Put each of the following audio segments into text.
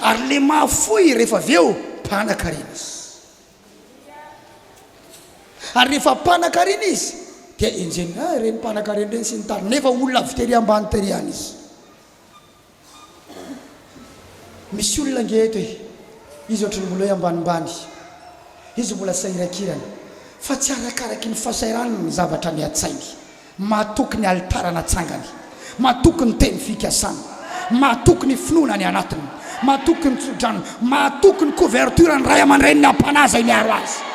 Ary le mahafoy rehefa avy eo mpanan-karena izy. Ary rehefa mpanan-karena izy dia enjehiny, ah ireny mpanan-karena ireny sy ny tariny, nefa olona avy tery ambany tery ihany izy. Misy olona ange eto e, izy ohatry ny mbola hoe ambanimbany, izy mbola sahirakirana, fa tsy arakaraky ny fahasahiranany ny zavatra any an-tsainy. Mahatoky ny alitara natsangany. Mahatoky ny teny fikasany. Mahatoky ny finoana any anatiny. Mahatoky ny tsodranony. Mahatoky ny couverture ny ray aman-dreniny am-panahy izay miaro azy.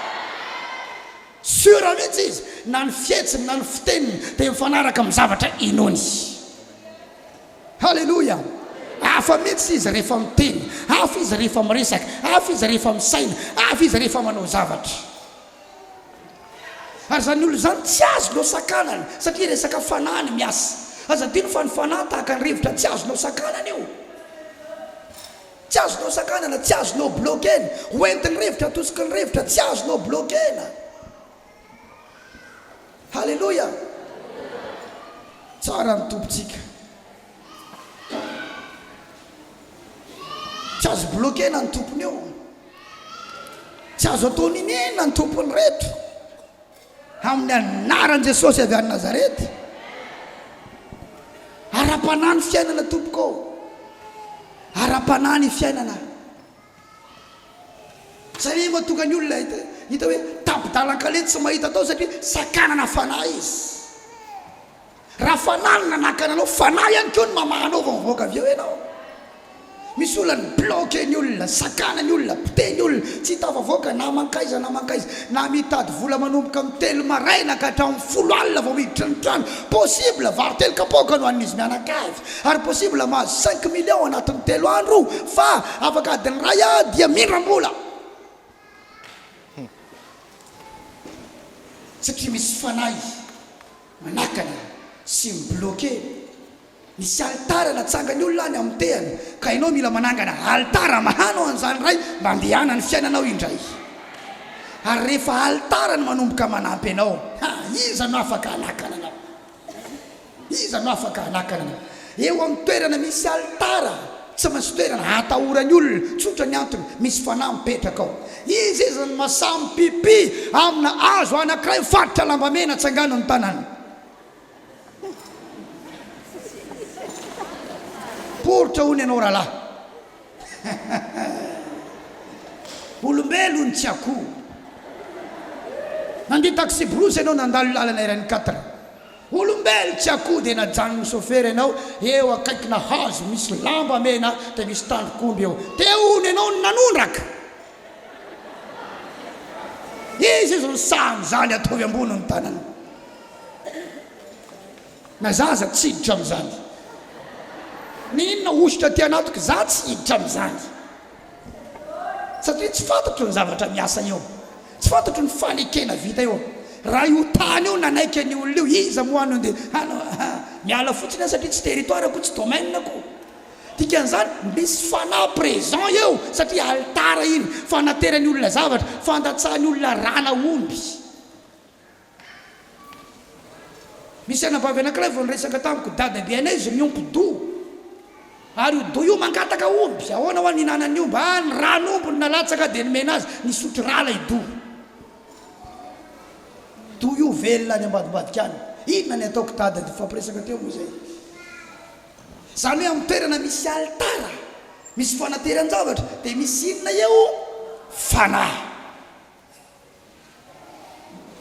Sûr mihitsy izy, na ny fihetsiny na ny fiteniny dia mifanaraka amin'ny zavatra inoany. Haleloia! Hafa mihitsy izy rehefa miteny, hafa izy rehefa miresaka, hafa izy rehefa misaina, hafa izy rehefa manao zavatra. Ary izany olona izany tsy azonao sakanana satria resaka fanahy no miasa. Aza adino fa ny fanahy tahaka ny rivotra tsy azonao sakanana io. Tsy azonao sakanana, tsy azonao bloquena. Ho entin'ny rivotra, atosiky ny rivotra, tsy azonao bloquena. Haleloia! Tsara ny Tompontsika. Tsy azo bloquena ny tompony io. Tsy azo atao niniana ny tompony reto. Amin'ny anaran'i Jesosy avy any Nazareth. Ara-panahy ny fiainana tompoko ô. Ara-panahy ny fiainana. Zay mahatonga ny olona hita hita hoe tapi-dalan-kaleha tsy mahita atao satria sakanana fanahy izy. Raha fanahy no nanakana anao, fanahy ihany koa no mamaha anao vao mivoaka avy eo ianao. Misy olona ny bloquer ny olona, sakana ny olona, pite ny olona, tsy hitafavoaka na mankaiza na mankaiza, na mitady vola manomboka amin'ny telo maraina ka hatramin'ny folo alina vao miditra ny trano, possible vary telo kapoaka no hanin'izy mianakavy, ary possible mahazo cinq millions anatin'ny telo andro, fa afaka adiny iray aho dia mindram-bola. Satria misy fanahy manakana sy mi-bloquer ny sy alitara natsangany olona any amin'ny tehany ka ianao mila manangana alitara mahanao an'izany ray mba andehanan'ny fiainanao indray ary rehefa alitara no manomboka manampy anao ha iza no afaka hanakana anao iza no afaka hanakana anao Eo amin'ny toerana misy alitara tsy maintsy toerana hatahoran'ny olona, tsotra ny antony, misy fanahy mipetraka ao. Izy izany no mahasahy mipipi amina hazo anankiray mifatotra lamba mena atsanganony ny tanany. Poritra hono ianao rahalahy. Olombelon tsy akoho. Nandia taxi-brousse ianao nandalo lalana iray ny quatre. Olombelo tsy akoho dia najanon'ny sôfera ianao eo akaikina hazo misy lamba mena dia misy tandrok'omby eo. Te hono ianao no nanondraka? Izy izy no sahy amin'izany ataovy ambony ny tanana. Na za aza tsy hiditra amin'izany. Ny inona hosotra aty anatiko za tsy hiditra amin'izany. Satria tsy fantatro ny zavatra miasa eo. Tsy fantatro ny fanekena vita eo. Raha io tany io nanaiky an'io olona io, iza moa no nde hanao an! Miala fotsiny aho satria tsy territoire ko, tsy domaine ko. Dikan'izany, misy fanahy présent eo satria alitara iny, fanateran'ny olona zavatra, fandatsahan'ny olona rana omby. Misy anabavy anankiray vao niresaka tamiko, Dadabe anay izy miompy doha, ary io doha io mangataka omby, ahoana hoa ny hinanan'ny omby? Ah, ny ran'omby no nalatsaka dia nomena azy, nisotro rà ilay doha. Doha io velona any ambadimbadika any. Inona ny ataoko Dada? Dia nifampiresaka teo moa izay. Izany hoe amin'ny toerana misy alitara, misy fanateran-javatra, dia misy inona eo? Fanahy.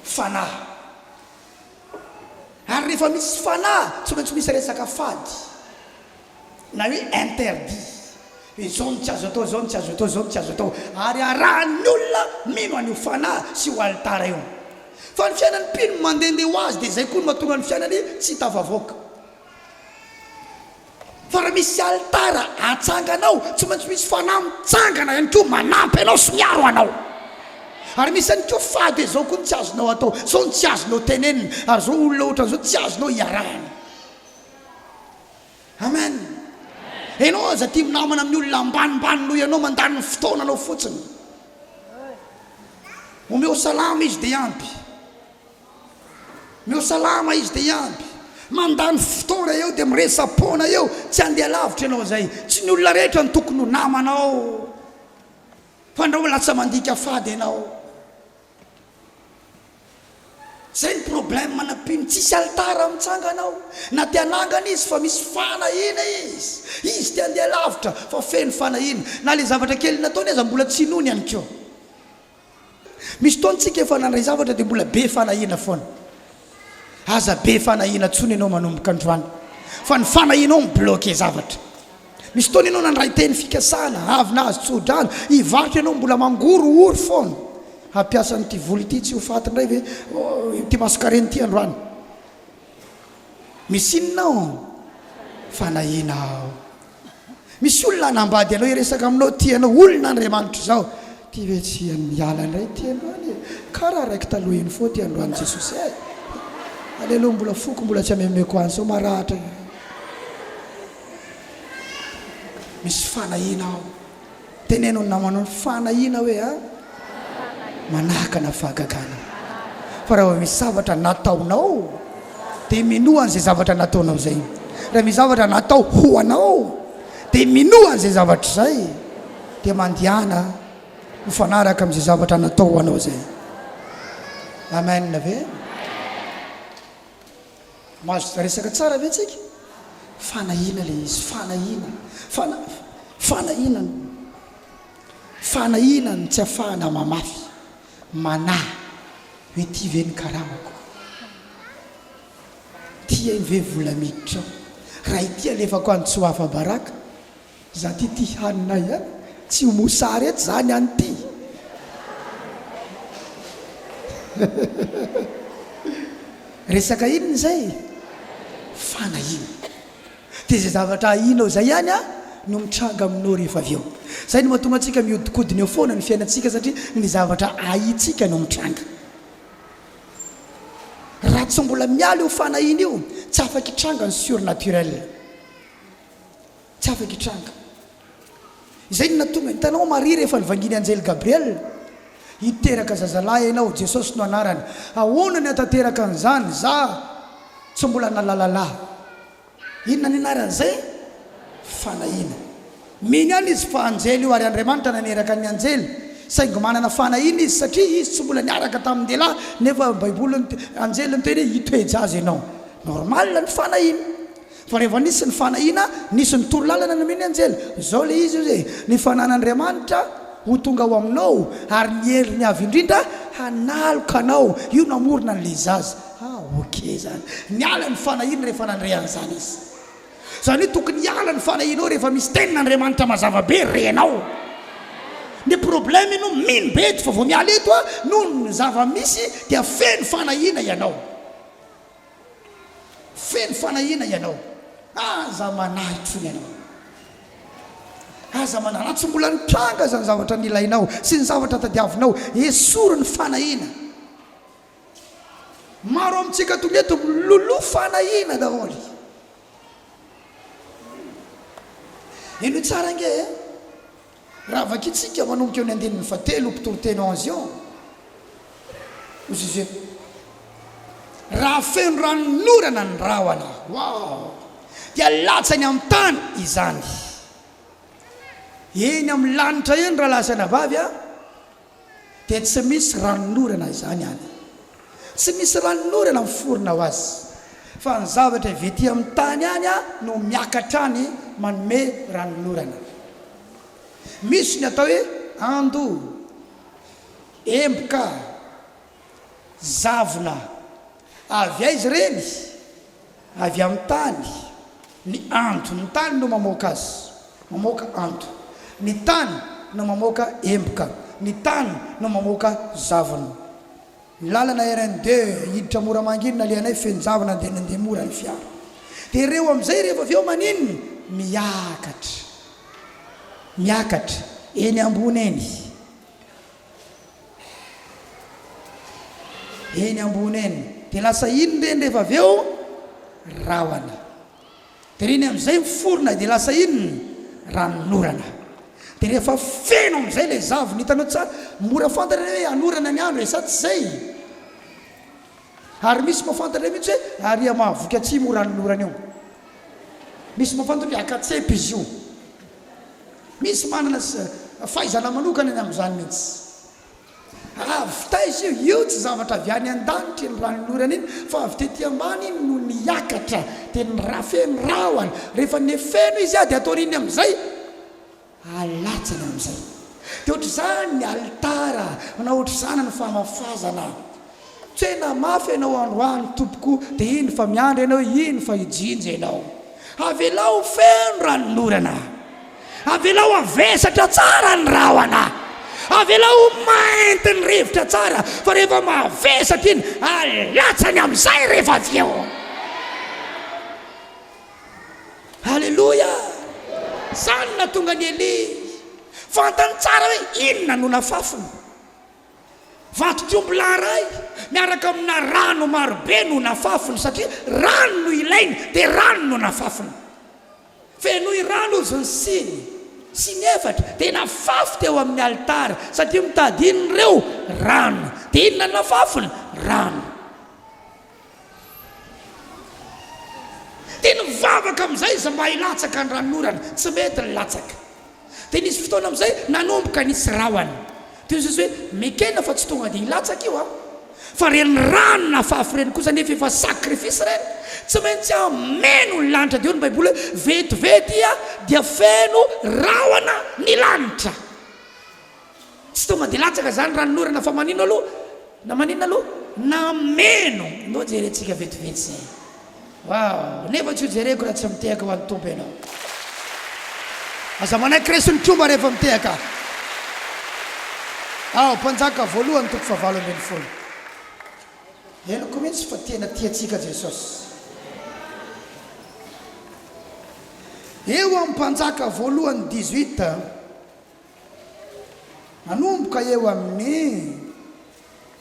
fanahy. Ary rehefa misy fanahy tsy maintsy misy resaka fady na hoe interdit, hoe izao no tsy azo atao, izao no tsy azo atao, izao no tsy azo atao, ary arahan'ny olona mino an'io fanahy sy io alitara io. Fa ny fiainan'ny mpino mandehandeha ho azy dia izay koa no mahatonga ny fiainany tsy hitafavoaka. Fa raha misy alitara atsanganao, tsy maintsy misy fanahy mitsangana ihany koa manampy anao sy miaro anao. Ary misy ihany koa fady hoe izao koa no tsy azonao atao, izao no tsy azonao tenenina, ary izao olona ohatran'izao tsy azonao iarahana. Amen. Ianao aza tia minamana amin'ny olona ambanimbany noho ianao, mandany ny fotoananao fotsiny. Omeo salama izy dia ampy. Neo salama izy dia hiamby. Mandany fotoana eo dia miresa-poana eo, tsy handeha lavitra ianao izay. Tsy ny olona rehetra no tokony ho namanao fa andrao lasa mandika fady ianao. Zay ny problème na mpino tsisy alitara mitsangana ao na te hanangana izy fa misy fanahiana izy, izy te handeha lavitra fa feno fanahiana na le zavatra kely nataony aza mbola tsy inoany ihany koa. Misy fotoana tsika efa nandray zavatra dia mbola be fanahiana foana. Aza be fanahiana tsony ianao manomboka androany fa ny fanahianao mi-bloquer zavatra. Misy fotoana ianao nandray teny fikasana, avy nahazo tsodrano, hivarotra ianao mbola mangorohoro foana. Hampiasa an'ity vola ity tsy ho faty indray ve ity masonkarena ity androany? Misy inona ao? Fanahiana ao. Misy olona hanambady anao hiresaka aminao tia anao olona Andriamanitra izao tia ve tsy hiany miala indray ity androany e kara raiky taloha iny foa ity androany Jesosy eh aleloa mbola foko mbola tsy amemeko any sao maratra irery misy fanahiana ao Teneno ny namana hoe fanahiana hoe a manahakana fahagagana. Fa raha vao misy zavatra nataonao dia minoa an'izay zavatra nataonao izay. Raha misy zavatra natao ho anao dia minoa an'izay zavatra izay dia mandihana mifanaraka amin'izay zavatra natao ho anao izay. Amen ve? Mazotoa resaka tsara ve tsika? Fanahiana ilay izy, fanahiana, fana, fanahiana no, fanahiana no tsy afahana mamafy, manahy hoe ity ve ny karamako? Ity ve vola miditra ao? Raha ity alefako any tsy ho afa-baraka? Za ty ty haninay a! Tsy ho mosary etsy zany any ty Resaka inona izay? Fanahiana. Dia izay zavatra ahianao izay ihany no mitranga aminao rehefa avy eo. Izay no mahatonga antsika mihodinkodina eo foana ny fiainantsika satria ny zavatra ahiantsika no mitranga. Raha tsy mbola miala io fanahiana io, tsy afaka hitranga ny surnaturel. Tsy afaka hitranga. Izay no nahatonga, hitanao Maria rehefa nivangian'ny anjely Gabriel, Hiteraka zazalahy ianao, Jesosy no anarany. Ahoana ny hahatanteraka an'izany, za tsy mbola nalalala. Inona ny anaran'izay? Fanahiana. Mino ihany izy fa anjely io ary Andriamanitra naneraka ny anjely, saingy manana fanahiana izy satria izy tsy mbola niaraka tamin-dehilahy nefa Baiboly, anjely niteny hoe hitoe-jaza ianao. Normal ny fanahiana. Fa rehefa nisy ny fanahiana, nisy ny toro lalana nomen'ny anjely. Izao ilay izy, hoy izy, Ny fananan'Andriamanitra ho tonga ao aminao, ary ny heriny avo indrindra hanaloka anao. Io namorona an'ilay zaza. Ha, ok izany. Niala ny fanahiany rehefa nandre an'izany izy. Izany hoe tokony hiala ny fanahianao rehefa misy tenin'Andriamanitra mazava be renao. Ny problème ianao mino be eto fa vao miala eto a, noho ny zava-misy dia feno fanahiana ianao. Feno fanahiana ianao. Aza manahy intsony ianao. Aza manahy. Raha tsy mbola nitranga izany zavatra nilainao sy ny zavatra tadiavinao, esory ny fanahiana. Maro amintsika tonga eto miloloha fanahiana daholo. Henoy tsara ange e. Raha vakintsika manomboka eo ny andininy fahatelo, mpitory teny ao Anzion, hoy Suze, Raha feno ranon'orana ny rahona, waoo, dia latsany amin'ny tany izany. Eny amin'ny lanitra eny, rahalahy sy anabavy a! Dia tsy misy ranonorana izany any. Tsy misy ranonorana miforona ho azy, fa ny zavatra avy ety amin'ny tany any no miakatra any manome ranonorana. Misy ny atao hoe ando, emboka, zavona, Avy aiza ireny? Avy amin'ny tany. Ny ando, ny tany no mamoaka azy. Mamoaka ando. Ny tany no mamoaka emboka. Ny tany no mamoaka zavona. Ny lalana RN deux hiditra Moramanga iny nalehanay feno zavona dia nandeha mora ny fiara. Dia ireo amin'izay rehefa avy eo maninona? Miakatra. Miakatra. Eny ambony eny. Eny ambony eny. Dia lasa iny indreny rehefa avy eo rahona. Dia ireny amin'izay miforona dia lasa iny ny ranon'orana. Dia rehefa feno amin'izay ilay zavona, hitanao tsa, mora fantatra hoe hanorana ny andro e, sa tsy izay? Ary misy mahafantatra mihitsy hoe ary hamaha voky atsimo io ranon'orana io. Misy mahafantatra hoe haka tsempa izy io. Misy manana fahaizana manokana ny amin'izany mihitsy. Avy taiza io? Io tsy zavatra avy any an-danitra iny ranon'orana iny fa avy tety ambany iny no niakatra dia nirafe ny rahona. Rehefa nefeno izy dia ataony iny amin'izay alatsany amin'izay. Dia ohatr'izany ny alitara na ohatr'izany ny famafazana Tena mafy ianao androany tompoko de iny fa miandry ianao iny fa hijinja ianao avelao ho feno ranonorana avelao havesatra tsara ny rahona avelao ho mainty ny rivotra tsara fa rehefa mavesatra iny alatsany amizay rehefa avy eo aleloia zany natonga an'i Elia fantany tsara hoe inona no nafafiny Vatokomby lahy iray miaraka amina rano marobe no nafafiny, satria rano no ilainy, dia rano no nafafiny. Fenoy rano izy ny siny sy ny efatra dia nafafy teo amin'ny alitara, satria mitady inona ireo? Rano. Dia inona no nafafiny? Rano. Dia nivavaka amin'izay izy mba hilatsaka ny ranon'orana, tsy mety ny latsaka. Dia nisy fotoana amin'izay nanomboka nisy rahona. Dia hoy Jesosy hoe, Mekena fa tsy tonga dia hilatsaka io aho. Fa ireny rano nafafy ireny kosa anefa efa sacrifice ireny, tsy maintsy hameno ny lanitra. Dia hoy ny Baiboly hoe, Vetivety dia feno rahona ny lanitra. Tsy tonga de latsaka zany ranonorana fa manino aloha na maninona aloha nameno ndao jerentsika vetivety zay waw nefa tsy ho jereko raha tsy mitehaka ho an'ny Tompo ianao aza manaiky resin'ny tromba rehefa mitehaka aho mpanjaka voalohany toko fahavalo ambin'ny folo henoko mihitsy fa tena tia antsika Jesosy eo amin'ny mpanjaka voalohany dix-huit Manomboka eo amin'ny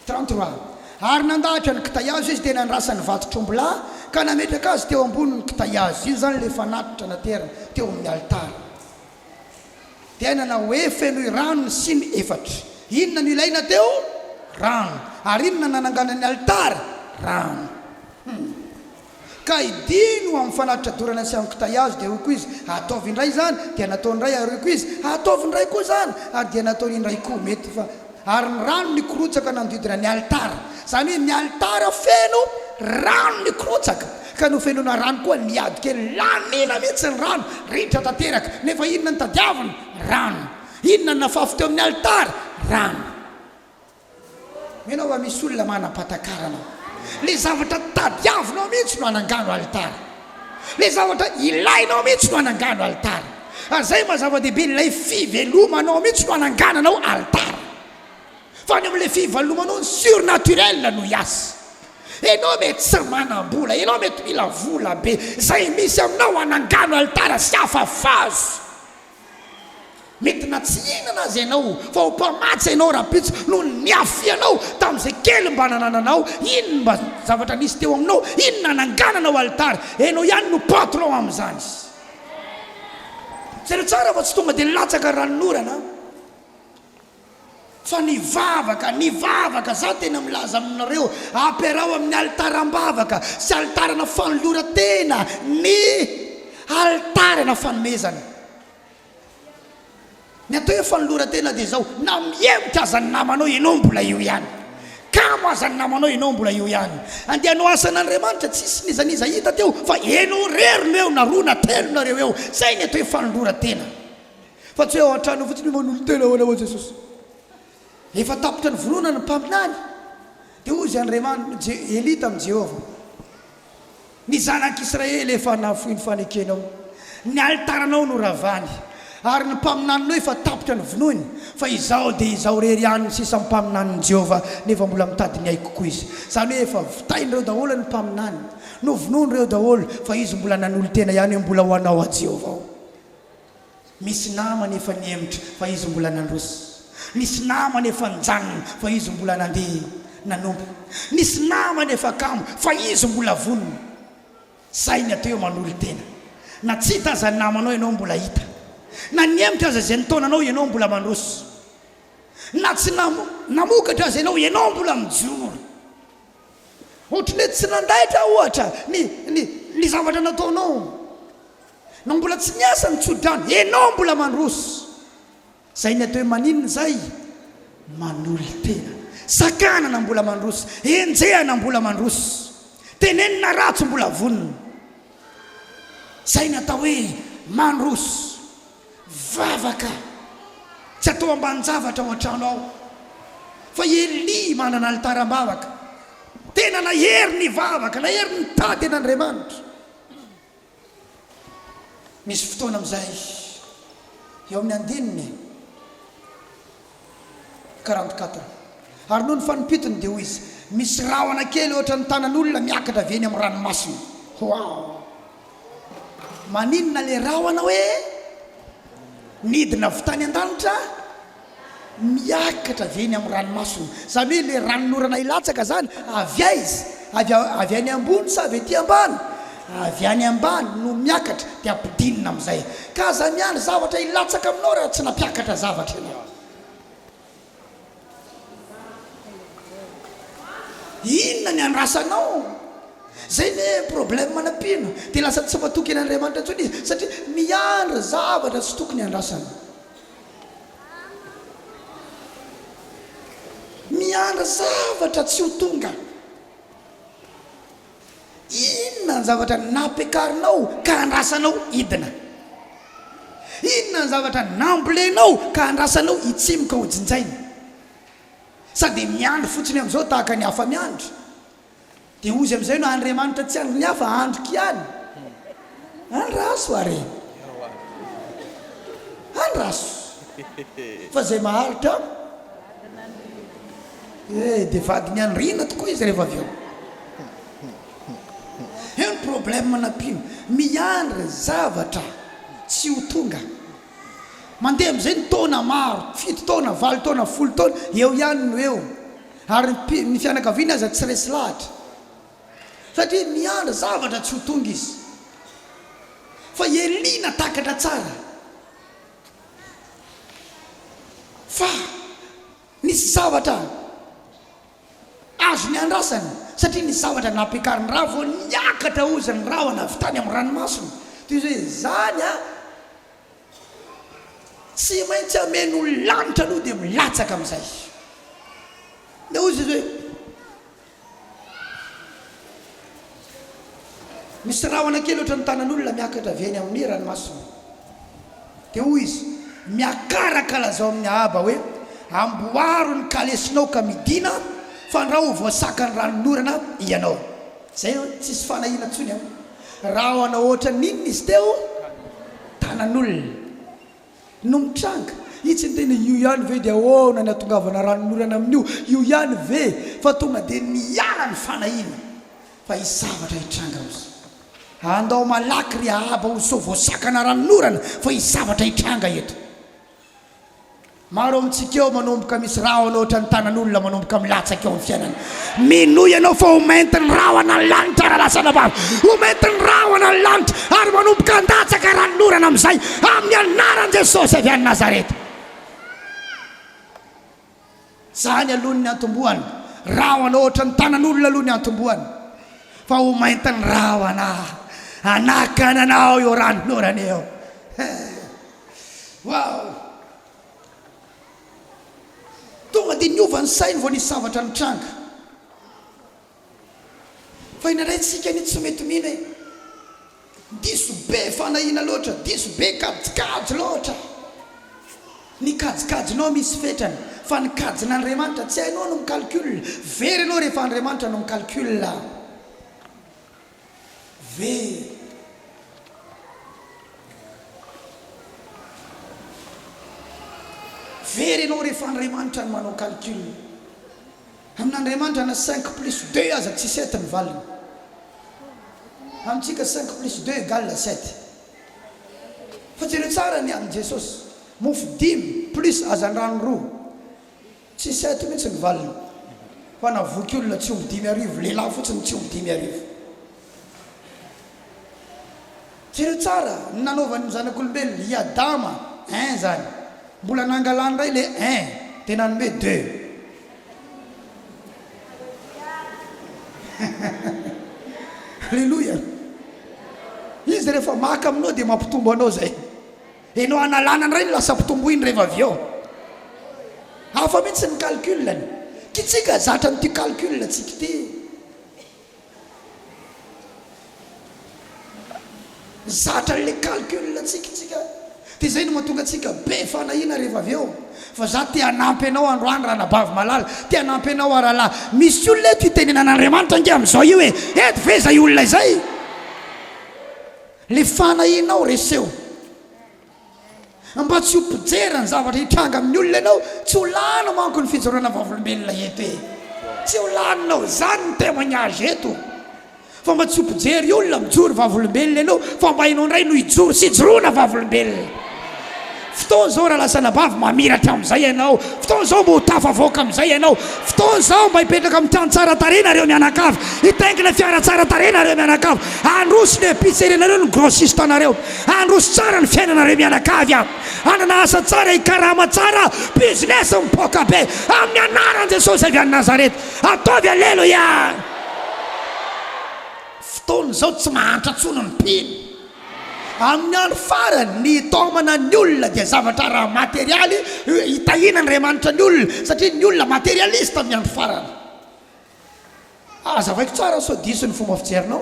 trente trois Ar nandahatra ny kitay hazo izy dia nandrasany vato tromblà ka nametraka azy teo ambonin'ny kitay hazo, io izany ilay fanatitra naterina teo amin'ny alitara. Dia nanao hoe, Fenoy rano ny siny efatra. Inona no ilaina teo? Rano. Ary inona no nananganan'ny alitara? Rano. Ka hidino amin'ny fanatitra dorana sy amin'ny kitay hazo, dia hoy koa izy, Ataovy indray izany, dia nataony indray, ary hoy koa izy, Ataovy indray koa izany, ary dia nataony indray koa. Mety fa. Ary ny rano nikorotsaka nanodidina ny alitara. Izany hoe ny alitara feno rano nikorotsaka, ka nofenoina rano koa ny ady kely. Laniana mihitsy ny rano, ritra tanteraka. Nefa inona no tadiaviny? Rano. Inona no nafafy teo amin'ny alitara? Rano. Ianao va misy olona manam-patakarana? Ilay zavatra tadiavinao mihitsy no anangano alitara. Ilay zavatra ilainao mihitsy no anangano alitara. Ary izay maha zava-dehibe, ilay fivelomanao mihitsy no anangananao alitara. Fa ny ao amin'ilay fivalomanao, ny surnaturel no hiasa. Ianao mety tsy manam-bola, ianao mety mila vola be. Izay misy aminao anangano alitara sy afafazo. Mety na tsy hihinana aza ianao fa ho mpamatsy ianao rahampitso noho ny niafianao tamin'izay kely mba nanananao, iny mba zavatra nisy teo aminao, iny nanangananao alitara, ianao ihany no patron amin'izany. Jereo tsara fa tsy tonga dia nilatsaka ranonorana. Fa nivavaka, nivavaka, za tena milaza aminareo, ampiaraho amin'ny alitaram-bavaka sy alitarana fanoloran-tena ny alitarana fanomezana. Ny atao hoe fanoloran-tena dia izao, na mihemotra aza ny namanao ianao mbola eo ihany, kamo aza ny namanao ianao mbola eo ihany, andeha hanao asan'Andriamanitra, tsisy n'iza n'iza hita teo fa ianao irery no eo na roa na telo nareo eo, zay ny atao hoe fanoloran-tena. Fa tsy hoe ao an-tranony fotsiny io manolotena ahoana hoy Jesosy. Rehefa tapitra ny voronan'ny mpaminany, dia hoy izy Andriaman, Je, Elia tamin'i Jehovah, Ny zanak'Israely efa nahafoy ny fanekenao, ny alitaranao noravany, ary ny mpaminaninao efa tapitra ny vonoiny, fa izaho dia izaho irery ihany no sisa mpaminanin'i Jehovah, nefa mbola mitady ny aiko koa izy. Izany hoe efa vitain'ireo daholo ny mpaminany, novonoin'ireo daholo, fa izy mbola nanolo-tena ihany hoe mbola ho anao aho Jehovah aho. Misy namany efa nihemotra fa izy mbola nandroso. Misy namany efa nijanona fa izy mbola nandeha nanompo. Nisy namany efa kamo fa izy mbola vonona. Sahy miatoa eo manolo-tena. Na tsy hita aza ny namanao ianao mbola hita. Na nihemotra aza izay nitaona anao ianao mbola mandroso. Na tsy namokatra aza ianao, ianao mbola mijoro. Ohatry ny hoe tsy nandaitra, ohatra, ny, ny, ny zavatra nataonao. Nao mbola tsy niasa ny tsodrano, ianao mbola mandroso. Izay ny atao hoe maninona izay? Manolo-tena. Sakana na mbola mandroso. Enjeha na mbola mandroso. Teneno na ratsy mbola vonona. Izay ny atao hoe mandroso. Vavaka, tsy atao ambanin-javatra ao an-trano ao fa i Elia manana alitara am-bavaka. Tena nahery ny vavaka, nahery ny tady an' Andriamanitra. Misy fotoana amin'izay eo amin'ny andininy. 44 ary noho ny fanompitony dia hoy izy, Misy rahona kely ohatra ny tanan'olona miakatra avy eny amin'ny ranomasina. Waouh! Maninona ilay rahona hoe nidina avy tany an-danitra miakatra avy eny amin'ny ranomasina? Izany hoe ilay ranon'orana hilatsaka izany avy aiza? Avy any ambony sa avy ety ambany? Avy any ambany no miakatra dia ampidinina amin'izay. Ka aza miandry zavatra hilatsaka aminao raha tsy nampiakatra zavatra ianao. Inona ny andrasanao? Izay ny problème anampiana. Dia lasa tsy matoky an'Andriamanitra intsony izy satria miandry zavatra tsy tokony handrasana. Miandry zavatra tsy ho tonga. Inona ny zavatra nampiakarinao ka andrasanao hidina? Inona ny zavatra nambolenao ka andrasanao hitsimoka ho jinjaina? Sa dia miandry fotsiny amin'izao tahaka ny hafa miandry? Dia hozy amin'izay no Andriamanitra tsy andrin'ny hafa, andriko ihany? Andraso ary e! Andraso fa izay maharitra. Eh dia vadin'i Andriana tokoa izy rehefa avy eo. Eo ny problème na mpino. Miandry zavatra tsy ho tonga. Mandeha amin'izay ny taona maro, fito taona, valo taona, folo taona, eo ihany no eo. Ary ny mpi, ny fianakaviany aza tsy resy lahatra. Satria miandry zavatra tsy ho tonga izy. Fa i Elia natakatra tsara. Fa. Nisy zavatra azo niandrasany satria nisy zavatra nampiakariny raha vao niakatra ozy ny rahona avy tany amin'ny ranomasina. Toy izao hoe, Izany an! Tsy maintsy hameno ny lanitra aloha dia milatsaka amin'izay. Dia hoy Jesosy hoe. Misy rahona kely ohatran'ny tanan'olona miakatra avy eny amin'ny ranomasina. Dia hoy izy, Miakaraka, lazao amin'i Ahaba hoe, Amboaro ny kalesinao ka midìna, fandrao ho voasakan'ny ranon'orana ianao. Izay eo, tsisy fanahiana intsony eo. Rahona ohatran'ny inona izy teo? Tanan'olona. no mitranga? Itsy ny tena io ihany ve dia ahoana ny atongavana ranonorana amin'io? Io ihany ve fa tonga dia niala ny fanahiana fa hisy zavatra hitranga ozy? Andao malaky ry Ahaba ozy sao voasakana ranonorana fa hisy zavatra hitranga eto. Maro amintsika eo manomboka misy rahona ohatran'ny tanan'olona manomboka milatsaka eo amin'ny fiainana Minoa ianao fa ho mainty ny rahona ny lanitra raha lazaina fa ho mainty ny rahona ny lanitra ary manomboka handatsaka ranon'orana amin'izay amin'ny anaran'i Jesosy avy any Nazareta. Izany aloha ny niantombohany. Rahona ohatra ny tanan'olona aloha ny niantombohany fa ho mainty ny rahona hanakana anao io ranon'orana io. Waouh! Tonga dia niova ny sainy vao nisy zavatra nitranga. Fa indraindray tsika anie tsy mety mino e. Diso be fanahiana loatra, diso be kajikajy loatra. Ny kajikajinao misy fetrany, fa ny kajin'Andriamanitra tsy hainao no mi-calcul. Very ianao rehefa Andriamanitra no mi-calcul. Very ianao rehefa Andriamanitra no manao calcul. Amin'Andriamanitra na cinq plus deux aza tsy sept ny valiny. Amintsika cinq plus deux égale sept. Fa jereo tsara ny amin'i Jesosy, mofo dimy plus hazandrano roa. Tsisy ahy ity mintsy ny valiny ho ana voky olona tsy omby dimy arivo lehilahy fotsiny tsy omby dimy arivo jereo tsara ny nanaovany ny zanak'olombelona i adama un zany mbola nangalany ndray le un de nanome deux Alléluia izy rehefa maka aminao de mampitombo anao zay. Dia no hanalana indray ny lasa mpitomboiny rehefa avy eo. Hafa mihitsy ny calcul-ny. Ty tsika zatra mitia calcul tsika ty. Zatra an'ilay calcul tsika tsika. Dia izay no mahatonga antsika be fanahiana rehefa avy eo. Fa za te hanampy anao androany ranabavy malala. Te hanampy anao aho rahalahy. Misy olona eto itenenan'Andriamanitra ange amin'izao io e. Eto ve izay olona izay? Le fanahinao reseho mba tsy ho mpijery ny zavatra hitranga amin'ny olona ianao, tsy ho lany manko ny fijoroana vavolombelona eto e! Tsy ho laninao izany ny témoignage eto fa mba tsy ho mpijery olona mijoro vavolombelona ianao fa mba ianao indray no hijoro sy hijoroana vavolombelona. Fotoana izao raha lasa anabavy mamiratra amin'izay ianao, fotoana izao mba ho tafavoaka amin'izay ianao, fotoana izao mba hipetraka amin'ny trano tsara tarehy nareo mianakavy, hitaingina fiara tsara tarehy nareo mianakavy, handroso ny epicerie nareo, ny grossiste anareo, handroso tsara ny fiainanareo mianakavy an! hanana asa tsara, hikarama tsara, business mipoaka be amin'ny anaran'i Jesosy avy any Nazareth, ataovy aleloia! Fotoana izao tsy mahantra intsony ny mpino. Amin'ny andro farany, ny hitaomana ny olona dia zavatra ara-materialy hitahiana Andriamanitra ny olona, satria ny olona materialista amin'ny andro farany. Hazavaiko tsara sao diso ny fomba fijerinao.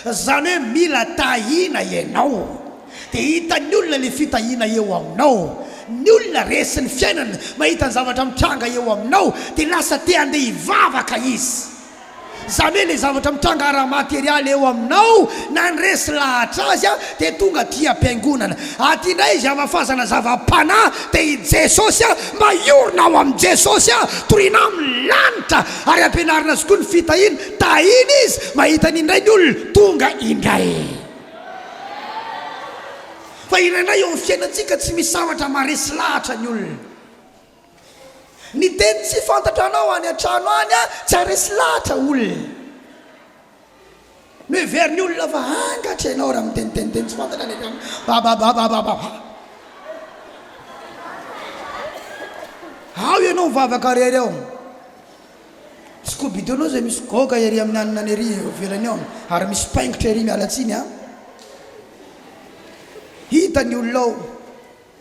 Izany hoe mila tahiana ianao, dia hitan'ny olona ilay fitahiana eo aminao. Ny olona resin'ny fiainana, mahita ny zavatra mitranga eo aminao, dia lasa te handeha hivavaka izy. Zany hoe le zavatra mitranga ara materialy eo aminao nandresy lahatra azy a de tonga aty ampiangonana aty indray izy hamafazana zavapanahy de i Jesosy a mba hiorina ao amin Jesosy a toriana amin ny lanitra ary ampianarina azy koa ny fitahiana tahina izy mahita an indray ny olona tonga indray fa indraindray eo amin fiainantsika tsy misy zavatra maresy lahatra ny olona. Ny teny tsy fantatra anao any an-trano any a! Tsy haharesy lahatra olona. Noheverin'ny olona fa angatra ianao raha miteniteny teny tsy fantatra any an-trano. Babababababa! Ao ianao mivavaka irery ao. Scooby-Doo anao izay misy goga ery amin'ny hanina ery eo ivelany ao ary misy paingotra ery miala tsiny a! Hita ny olona ao.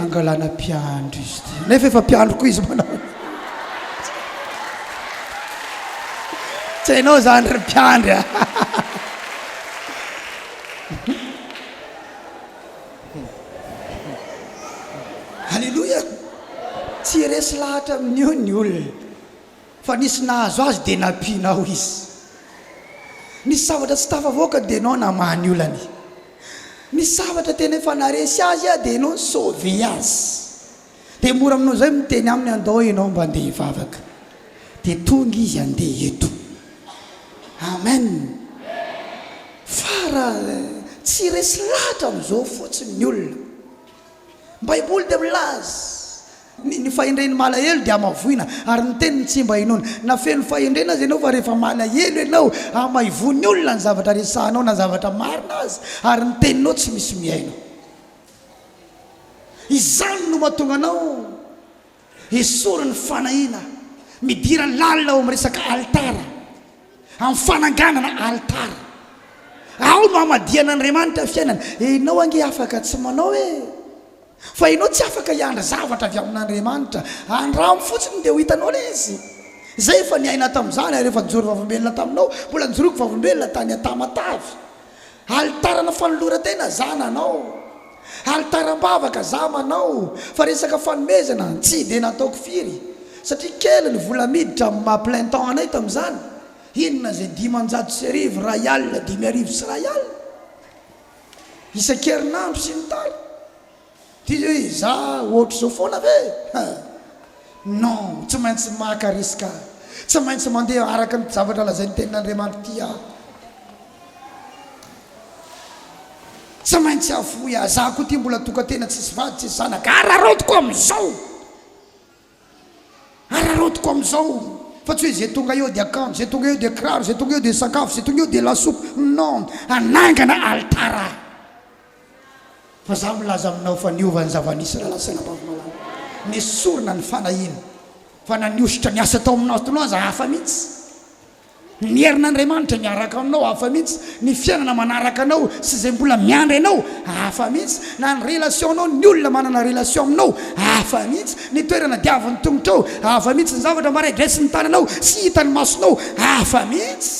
Angalana mpiandry izy ity. Nefa efa mpiandry koa izy manao hoe. Tsy hainao izany ry mpiandry a! Aleloia! Tsy resy lahatra amin'io ny olona. Fa nisy nahazo azy dia nampiana ao izy. Nisy zavatra tsy tafavoaka dia ianao namaha ny olany. Nisy zavatra tena efa naharesy azy dia ianao ni-sauver azy. Dia mora aminao izay miteny aminy andao ianao mba andeha hivavaka. Dia tonga izy handeha eto. Amen. Fa raha tsy resy lahatra amin'izao fotsiny ny olona. Ny Baiboly dia milaza Ny fahendren'ny malahelo dia hamavoina, ary ny teniny tsy mba inoana. Na feno fahendrena aza ianao, fa rehefa malahelo ianao, hamaivoan'ny olona ny zavatra resahanao na zavatra marina aza, ary ny teninao tsy misy mihaino. Izany no mahatonga anao esorin'ny fanahiana, midira lalina ao amin'ny resaka alitara, amin'ny fananganana alitara. Ao no hamadihan'Andriamanitra fiainana. Ianao ange afaka tsy manao e! Fa ianao tsy afaka hiandry zavatra avy amin'Andriamanitra. Andramo fotsiny dia ho hitanao ilay izy. Izahay efa niaina tamin'izany ary efa nijoro vavolombelona taminao. Mbola nijoroako vavolombelona tany Tamatave. Alitarana fanoloran-tena za nanao. Alitaram-bavaka za manao. Fa resaka fanomezana, tsy dia nataoko firy. Satria kely ny vola miditra amin'ny maha plein temps anay tamin'izany. Inona izay dimanjato sy arivo, iray alina, dimy arivo sy iray alina. isan-kerinandro sy ny tariny. Dia hoe izaho ohatr'izao foana ve? Ha! Non, tsy maintsy maka risque aho. Tsy maintsy mandeha araka ny zavatra lazain'ny Tenin'Andriamanitra ity aho. Tsy maintsy hahafoy ahy. Izaho koa ity mbola tokan-tena tsisy vady, tsisy zanaka. Araraotiko amin'izao! Araraotiko amin'izao fa tsy hoe izay tonga eo dia kanjo, izay tonga eo dia kiraro, izay tonga eo dia sakafo, izay tonga eo dia lasopy. Non, hanangana alitara aho. Fa izaho milaza aminao fa niova ny zava-nisy raha lasa an'Ambavimalala. Nesorina ny fanahiana. Fa na nihosotra niasa tao amin'ny Nord Toloha aza hafa mihitsy. Ny herin'Andriamanitra miaraka aminao hafa mihitsy, ny fiainana manaraka anao sy izay mbola miandry anao hafa mihitsy, na ny relation-nao ny olona manana relation aminao hafa mihitsy, ny toerana diavin'ny tongotrao hafa mihitsy, ny zavatra mba regressin'ny tananao sy hitan'ny masonao hafa mihitsy,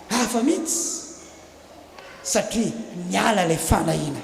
hafa mihitsy satria miala ilay fanahiana.